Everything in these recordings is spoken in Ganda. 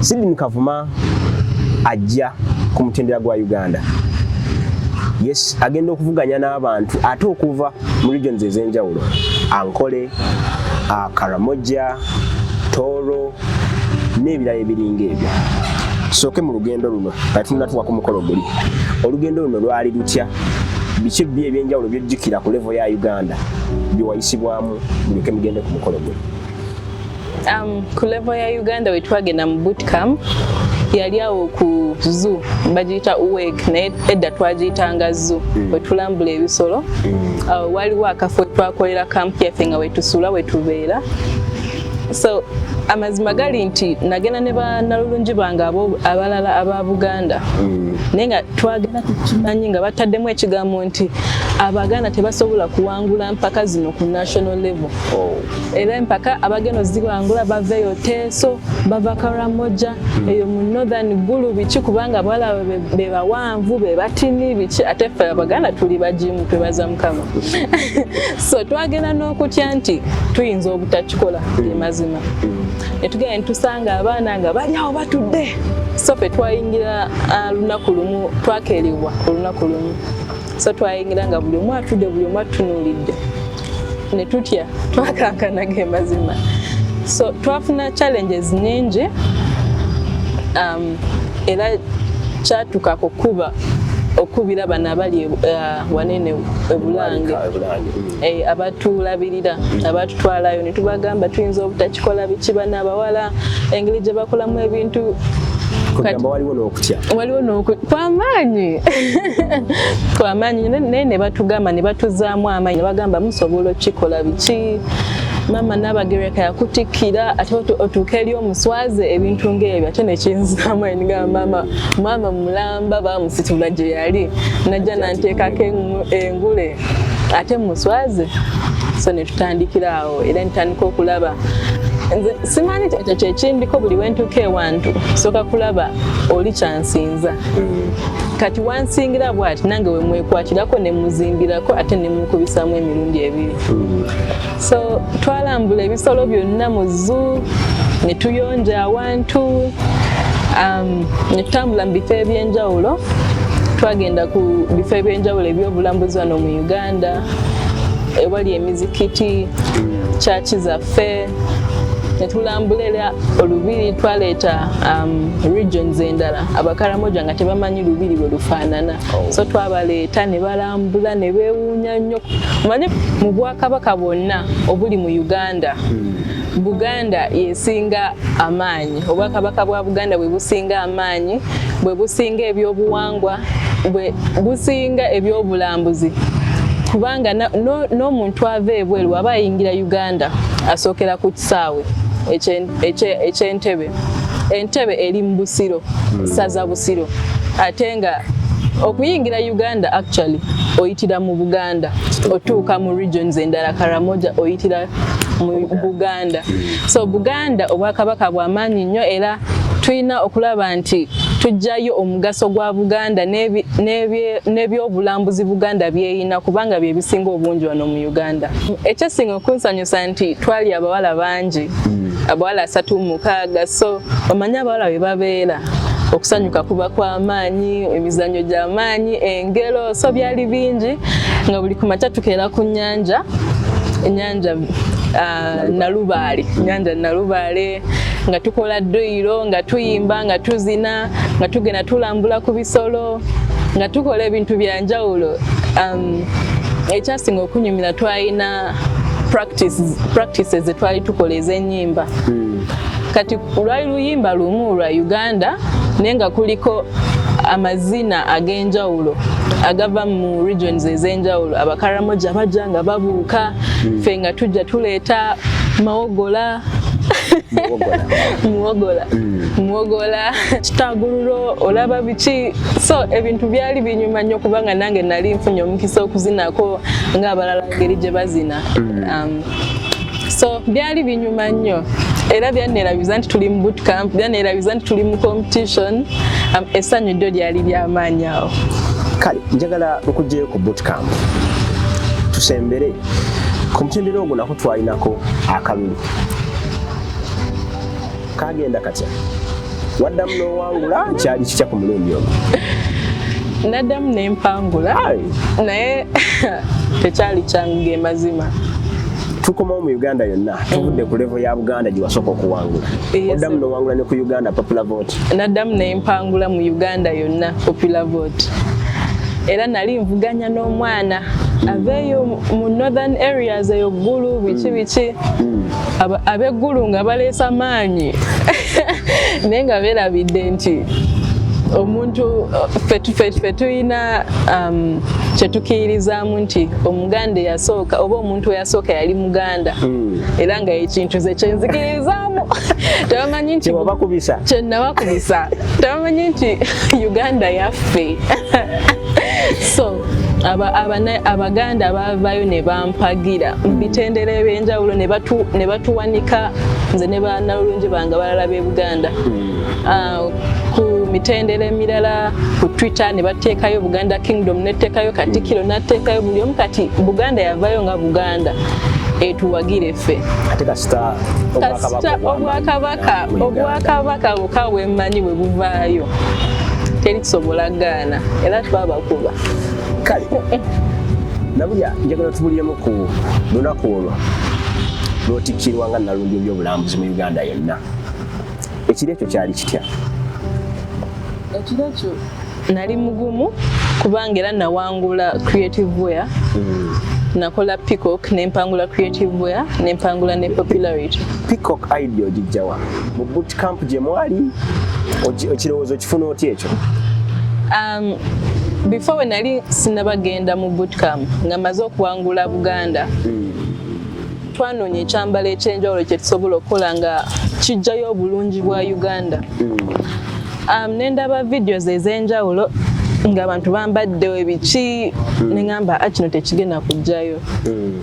Sidini Kavuma ajja ku mutendera gwa Uganda. Yes, agenda okuvuganya n'abantu ate okuva mu regions ez'enjawulo Ankole, uh, Karamoja, Toro n'ebirala ebiringa ebyo. Sooke mu lugendo luno kati tunatuwa ku mukolo guli. Olugendo luno lwali lutya? Biki bbi eby'enjawulo by'ojjukira ku levo ya Uganda byewayisibwamu buleke mugende ku mukolo guli? Um, ku level ya Uganda wetwagenda mu boot camp yali awo ku zoo bagiyita uwek naye edda twagiyitanga zoo mm. wetulambula ebisolo mm. uh, waliwo akafo wetwakolera camp yaffe nga wetusula wetubeera so amazima gali nti nagenda ne banalulungi bange abalala aba buganda mm. naye nga twagenda tukimanyi nga bataddemu ekigambo nti abaganda tebasobola kuwangula mpaka zino ku national level oh. era empaka abagenda ozibangula bava eyo teeso bava karamoja hmm. eyo mu northern gulu biki kubanga abawala bebawanvu bebatini biki ate ffe abaganda tuli bagimu twebaza mukama so twagenda n'okutya nti tuyinza obutakikola hmm. emazima hmm. netugenda netusanga abaana nga bali awo batudde so fe twayingira ah, lunaku lumu twakeerebwa olunaku lumu so twayingira nga buli omu atudde buli omu atunuulidde ne tutya twakankana ge mazima so twafuna challenges nyingi um, era kyatuka ku kuba okubira bano abali uh, wanene ebulange eh, abatulabirira abatutwalayo netubagamba tuyinza obutaki kikola biki bana abawala engeri gye bakolamu ebintu waliwo nokutya waliwo kwamaanyi kwamaanyi naye ne batugamba ne batuzaamu amaanyi ne bagamba musobola okukikola biki maama nabagereka yakutikkira ate otuuka eri omuswaze ebintu ngaebyo ate nekinzaamu eniga maama maama mulamba bamusitula gye yali najja nanteekako engule ate muswaze so netutandikiraawo era ntandika okulaba nze simanyi ekyo kyekimbiko buli wentuuka ewantu soka kulaba oli kyansinza kati wansingira bwati nange wemwekwatirako nemuzimbirako ate nemukubisamu emirundi ebiri so twalambula ebisolo byonna mu zu netuyonja awantu um, netutambula mu bifo ebyenjawulo twagenda ku bifo ebyenjawulo ebyobulambuzi wano mu uganda ewali emizikiti kyaki zaffe netulambula era olubiri twaleeta um, regions endala abakaramoja nga tebamanyi lubiri bwe lufaanana oh. so twabaleeta ne balambula ne beewuunya nnyo manye mu bwakabaka bwonna obuli mu uganda hmm. buganda yesinga amaanyi obwakabaka bwa buganda bwe businga amaanyi bwe businga ebyobuwangwa bwe businga ebyobulambuzi kubanga n'omuntu ava ebweru aba ayingira uganda asookera ku kisaawe ekyentebe entebe eri mu busiro hmm. saza busiro ate nga okuyingira uganda actually oyitira mu buganda otuuka mu regions endala karamoja oyitira mu buganda so buganda obwakabaka bwamaanyi nnyo era tulina okulaba nti tujjayo omugaso gwa buganda n'ebyobulambuzi buganda byeyina kubanga bye bisinga obungi wano mu uganda ekyasinga okunsanyusa nti twali abawala bangi abawala asatu mukaaga so omanyi abawala bwe babeera okusanyuka kuba kwa maanyi emizannyo gya maanyi engero so byali bingi nga buli ku makya tukeera ku nnyanja ennyanja ah, nalubaale ennyanja nalubaale nga tukola dduyiro nga tuyimba nga tuzina nga tugenda tulambula ku bisolo nga tukola ebintu bya njawulo um, ekyasinga okunyumira twalina practices zetwali tukola ez'ennyimba hmm. kati lwali luyimba lumu lwa uganda naye nga kuliko amazina ag'enjawulo agava mu regions ez'enjawulo abakaramoja bajja nga babuuka hmm. ffe nga tujja tuleeta mawogola muwogola muwogola hmm. kitagululo olaba biki so ebintu byali binyuma nnyo kubanga nange nali nfunye omukisa okuzinako ng'abalala ngeri gye bazina mm. um, so byali binyuma nnyo era byanneerabiza nti tuli mu boot camp byanneerabiza nti tuli mu competition um, essanyu ddyo lyali lyamaanyi awo kale njagala okugyeyo ku boot camp tusembere ku mutendera ogwo nako twalinako akalulu kagenda katya waddamu n'owangula kyali kitya ku mulundi omu naddamu nempangula naye tekyali kyangu ge mazima tukomawo mu uganda yonna tuvudde ku levo ya buganda gyewasooka okuwangula oddamu nowangula ne ku uganda popular vote naddamu nempangula mu uganda yonna popular vote era nali nvuganya n'omwana aveeyo mu northern areas eyo ggulu biki biki mm. ab'eggulu nga baleesa maanyi naye nga beerabidde nti omuntu ffe tulina um, kyetukiirizaamu nti omuganda eyasooka oba omuntu eyasooka yali muganda hmm. era nga ekintu ze kyenzikirizaamu tebamanyi nti kyenabakubisa tebamanyi nti uganda yaffe so abaganda abavayo ne bampagira mu bitendera ebyenjawulo ne batuwanika nze ne banalulungi bange balala b'e buganda hmm. ah, ku mitendera emirala ku twitter ne bateekayo buganda kingdom neteekayo katikiro nateekayo buli omu kati buganda yavayo nga buganda etuwagire ffe kasita obwakabaka obwakabaka buka bwemmanyi bwe buvaayo teri kisobola gaana era twaba kale nabulya njagala tubuliremu ku lunaku olwo lwotikkirwa nga nalumbi ebyobulambuzi mu uganda yonna ekiro ekyo kyali kitya ekiro ekyo nali mugumu kubanga era nawangula creative wear mm. nakola peacock nempangula creative wear nempangula ne popularity peacock idea ogijjawa mu boot camp gye mwali okirowooza okifuna otya ekyo Um, before we nali sinabagenda mu bootcamp nga maze okuwangula Buganda hmm. twanoonya ekyambalo ekyenjawulo kyetusobola okukola nga kijjayo obulungi bwa Uganda hmm. um, nendaba videos ez'enjawulo ng'abantu bambadde ebiki hmm. nengamba ah, kino tekigenda kujjayo hmm.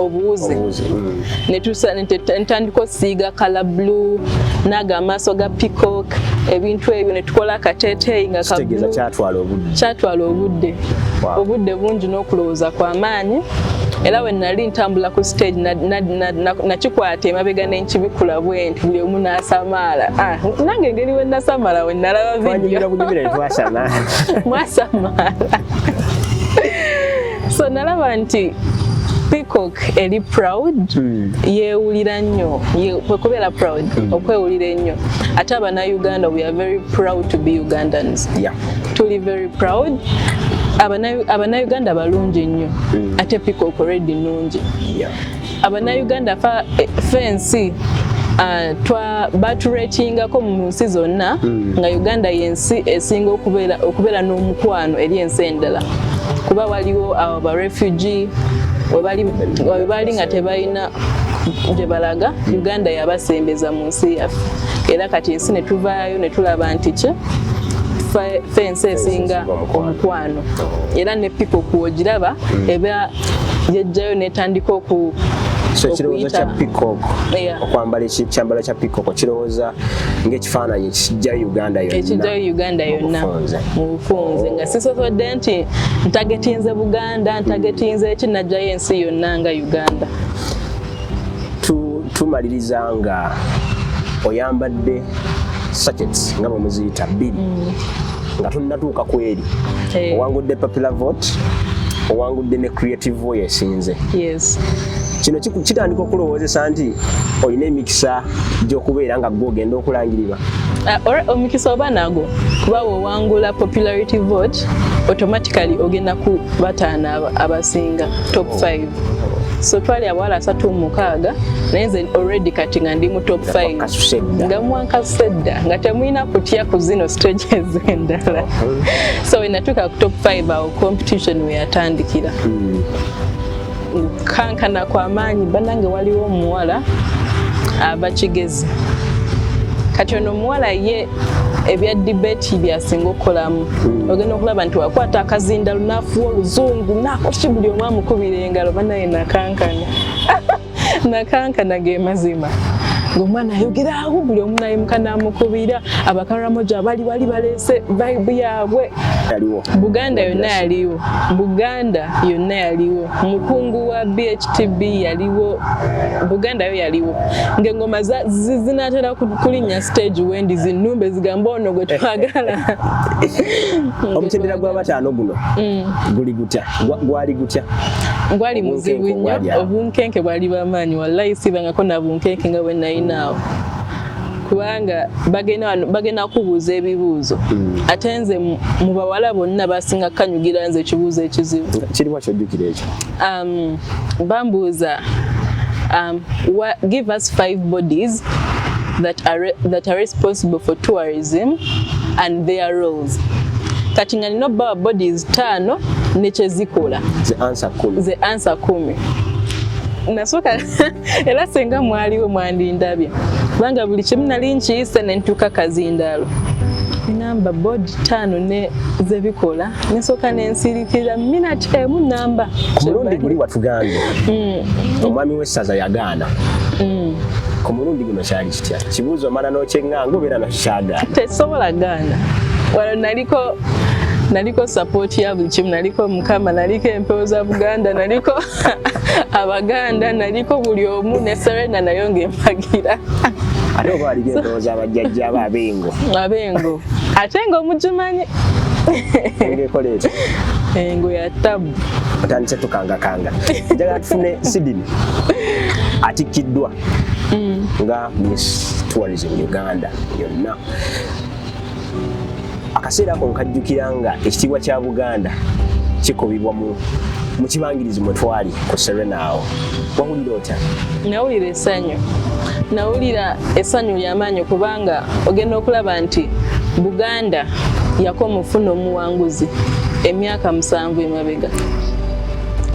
obuwuzi netandika osiiga kala blue naga amaaso ga peacock ebintu ebyo netukola akateteeyi nga kyatwala obudde obudde bungi n'okulowooza kwamaanyi era we nali ntambula ku stage nakikwata emabega nenkibikula bwenti buli omu nasamaala ah, nange engeri we nasamaala we nalaba vidio mwasamaala so nalaba nti peacock eri proud hmm. yewulira nnyo kwekubeera proud hmm. okwewulira ennyo ate abanauganda we are very proud to be ugandans tuli very proud abanauganda balungi nnyo hmm. ate peacock redi nungi abannayuganda eh, fensi ah, twa baturetingako mu nsi zonna hmm. nga uganda yensi esinga okubeera n'omukwano eri ensi endala kuba waliwo abo ba refugee webaali nga tebalina gye balaga hmm. uganda yabasembeza mu nsi yaffe era kati ensi netuvaayo netulaba nti ki fensi esinga omukwano oh. era ne pipo kwogiraba hmm. eba yajjayo netandika oku so ekirowoozo kya peacock okwambala ekyambalo kya peacock kirowooza ng'ekifaananyi ekijjayo uganda yonna ekijjayo uganda yonna mu bufunze nga sisobodde nti ntagetinze buganda ntagetinze eki najjayo ensi yonna nga uganda tumaliriza nga oyambadde sachets nga bwe muziyita bbiri mm. nga tunnatuuka ku eri eh. owangudde popular vote owangudde ne creative voice esinze kino kitandika okulowoozesa nti olina emikisa gy'okubeera nga gwe ogenda okulangirirwa uh, omukisa oba nago kuba wewangula popularity vote automatically ogenda ku bataano abasinga top 5 so twali abawala asatu mumukaaga naye nze already kati nga ndi mu top 5 nga mwankasuse dda nga temulina kutya ku zino stages endala uh-huh. so wenatuuka ku top 5 awo competition weyatandikira hmm. kankana kwa maanyi banange waliwo omuwala aba kigezi kati ono omuwala ye ebya debate byasinga okukolamu hmm. ogenda okulaba nti wakwata akazinda lunafuwa oluzungu nakoki buli omu amukubira engalo banaye nakankana nakankana ge mazima ng'omwana ayogera awo buli omu naye mukana amukubira abakarramoja abali bali baleese vibe yaabwe buganda yonna yaliwo buganda yonna yaliwo mukungu wa bhtb yaliwo buganda yo yaliwo ng'engoma zinatera kulinnya stage wendi zinnumba ezigamba ono gwe twagala omutendera gwa bataano guno mm. guli gutya gwali gutya gwali muzibu nnyo obunkenke bwali bamaanyi wallayi sibangako nabunkenke nga bwenayinaawo kubanga bagenda kubuuza ebibuuzo hmm. ate nze mu bawala bonna basinga kukanyugira nze ekibuuzo ekizibu kiriwa kyojjukira ekyo um, bambuuza um, give us five bodies that are, that are responsible for tourism and their roles kati nga nina obbawa bodies taano nekyezikola ze ansa kumi nasooka era senga mwaliwo mwandindabye kubanga buli kimu nali nkiyise ne ntuuka kazindaalo namba bodi taano ne zebikola nesooka nensirikira minati emu namba ku mulundi guli watugambye mm. omwami w'essaza yagaana mm. ku mulundi guno kyali kitya kibuuzo omala n'okyeŋŋanga obeera nakikyagaana tesobola gaana wano naliko naliko support ya buli kimu naliko mukama naliko empewo za buganda naliko abaganda naliko buli omu ne serena nayo ng'empagira ate oba waliko endowooza abajjajja abo abengo abengo ate nga omugimanyi engekola ekyo engo ya tabu otandise tukangakanga njagala tufune sidini atikkiddwa mm. nga miss tourism uganda yonna akaseera ako nkajjukira nga ekitiibwa kya buganda kikubibwa mu mu kibangirizi mwe twali ku serena awo wawulira otya nawulira esanyu nawulira esanyu lyamaanyi kubanga ogenda okulaba nti buganda yako mufuna omuwanguzi emyaka musanvu emabega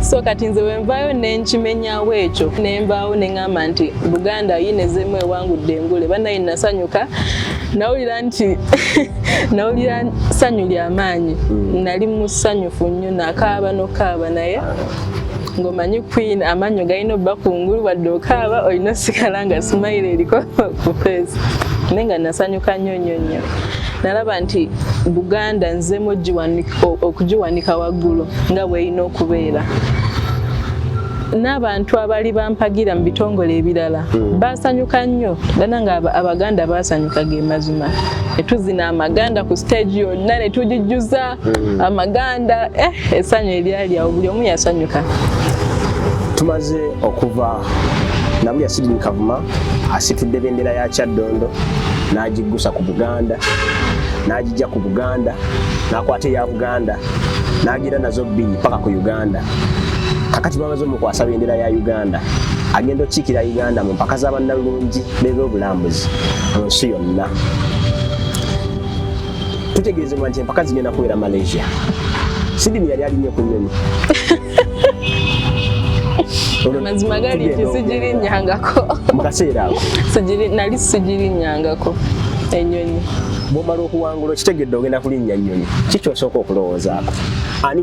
so kati nze wenvaayo nenkimenyawo ekyo nenvaawo neŋamba nti buganda yinezemu ewangudde engule banaye nasanyuka nawulira nti nawulira ssanyu lya maanyi mm. nali musanyufu nnyo nakaaba nokaaba naye ngomanyi queen amanyo galina obba kungulu wadde okaaba olina osigala nga simayiro eriko ku feesi naye nga nasanyuka nnyo nnyo nnyo nalaba nti buganda nzemu okugiwanika waggulu nga bweyina okubeera n'abantu abaali bampagira mu bitongole ebirala hmm. baasanyuka nnyo dana nga abaganda baasanyuka ge mazima netuzina amaganda ku stage yonna netugijjuza hmm. amaganda eh, essanyu eryali awo buli omu yasanyuka tumaze okuva nabuli asidini kavuma asitudde bendera ya kyaddondo n'agiggusa ku buganda n'agijja ku buganda n'akwata eya buganda n'agira nazo bbiri paka ku uganda kakati bamaze omukwasa bendera ya uganda agenda okukiikira uganda mu mpaka z'abannalungi b'ebyobulambuzi mu nsi yonna tutegeezebwa nti empaka zigenda kubeera malaysia sidini yali alinye ku nyonyi mazima gali nti sigirinyangako mu kaseera ako nali sigirinyangako enyonyi bwomala okuwangula okitegedde ogenda kulinnya nnyonyi kikyosooka okulowoozaako ani